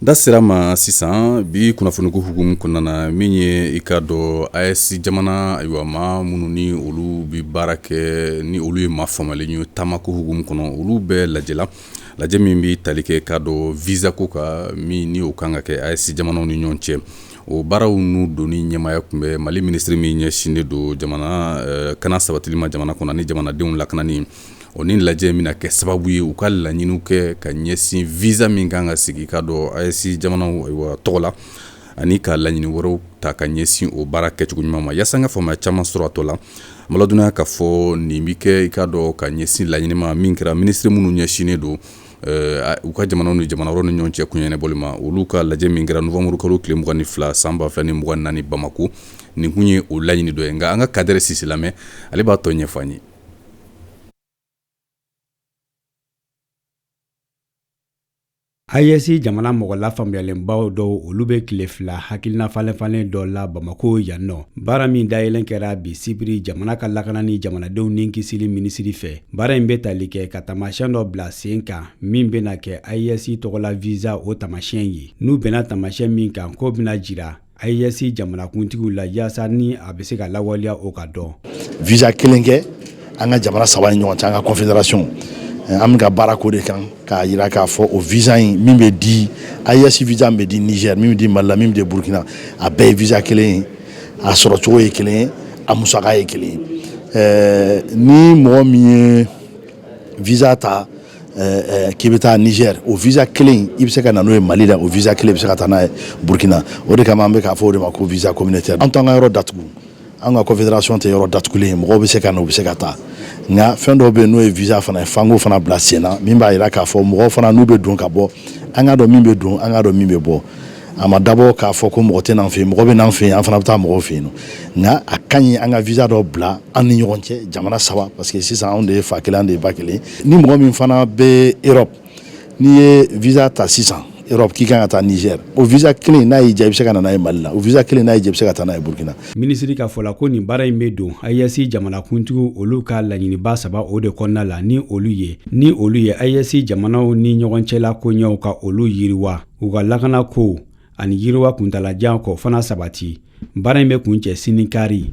Da sera ma sisan bi kunnafoniko hukumu kɔnɔna na min ye i ka dɔn AES jamana ayiwa maa minnu ni olu bɛ baara kɛ ni olu ye maa faamalen ye taamako hukumu kɔnɔ olu bɛ lajɛ la lajɛ min bɛ tali kɛ ka dɔn visa ko kan min ni o kan ka kɛ AES jamanaw ni ɲɔgɔn cɛ o baaraw n'u don ni ɲɛmaaya tun bɛ mali minisiri min ɲɛsinnen don jamana kana sabatili ma jamana kɔnɔ ani jamanadenw lakanani o ni lajɛ min na kɛ sababu ye u ka laɲini kɛ ka ɲɛsin visa min kan ka sigi ka dɔn AES jamanaw tɔgɔ la ani ka laɲini wɛrɛw ta ka ɲɛsin o baara kɛcogo ɲuman ma yaasa ka faamuya caman sɔrɔ a tɔ la madya ka fɔ nin bɛ kɛ i ka dɔn ka ɲɛsin laɲini ma min kɛra minisiri minnu ɲɛsinnen don u ka jamana ni jamana ni ɲɔgɔn cɛ ko ɲɛnabɔli ma olu ka lajɛ min kɛra nowanburukalo tile mugan ni fila san ba fila ni mugan ni naani bamakɔ nin kun ye o laɲini don ye nka an ka kadɛri sise lamɛn ale b'a tɔ ɲɛf'an ye AES jamana mɔgɔ lafaamuyalenbaw dɔw olu bɛ tile fila hakilinafalenfalen dɔ la bamakɔ yan nɔ baara min dayɛlɛn kɛra bi sibiri jamana ka lakana ni jamanadenw ni kisili minisiri fɛ baara in bɛ tali kɛ ka taamasiyɛn dɔ bila sen kan min bɛna kɛ AES tɔgɔ la visa o tamasiɲɛ ye n'u bɛnna tamasiɲɛ min kan k'o bɛna jira AES jamanakuntigiw la yaasa ni a bɛ se ka lawaleya o ka dɔn visa kelen kɛ an ka jamana saba ni ɲɔgɔn cɛ an ka confédération an bɛ ka baara k'o de kan k'a jira k'a fɔ o visa in min bɛ di AES visa min bɛ di nizɛri min bɛ di mali la min bɛ di burukina a bɛɛ ye visa kelen ye a sɔrɔcogo ye kelen ye a musaka ye kelen ye ni mɔgɔ min ye visa ta k'i bɛ taa nizɛri o visa kelen i bɛ se ka na n'o ye mali la o visa kelen bɛ se ka taa n'a ye burukina o de kama an bɛ k'a fɔ o de ma ko visa communautaire an t'an ka yɔrɔ datugu an ka confédération tɛ yɔrɔ datugulen ye mɔgɔw bɛ se ka na u bɛ se ka taa nka fɛn dɔw bɛ yen n'o ye visa fana ye f'an k'o fana bila sen na min b'a jira k'a fɔ mɔgɔw fana n'u bɛ don ka bɔ an k'a dɔn min bɛ don an k'a dɔn min bɛ bɔ a ma dabɔ k'a fɔ ko mɔgɔ tɛ n'an fɛ mɔgɔ bɛ n'an fɛ an fana bɛ taa mɔgɔw fɛ yen nka a ka ɲi an ka visa dɔ bila an ni ɲɔgɔn cɛ jamana saba parce que sisan anw de ye fa kelen anw de ye ba kelen ni mɔgɔ min fana bɛ erɔpu n'i ye visa ta sisan erɔpu k'i kan ka taa nizɛri o visa kelen n'a y'i diya i bɛ se ka na n'a ye mali la o visa kelen n'a y'i diya i bɛ se ka taa n'a ye burukina minisiri ka fɔ la ko nin baara in bɛ don AES jamanakuntigiw olu ka laɲiniba saba o de kɔnɔna la ni olu ye ni olu ye AES jamanaw ni ɲɔgɔn cɛla koɲɛw ka olu yiriwa u ka lakana ko ani yiriwa kuntalajan ko fana sabati baara in bɛ kuncɛ sini kari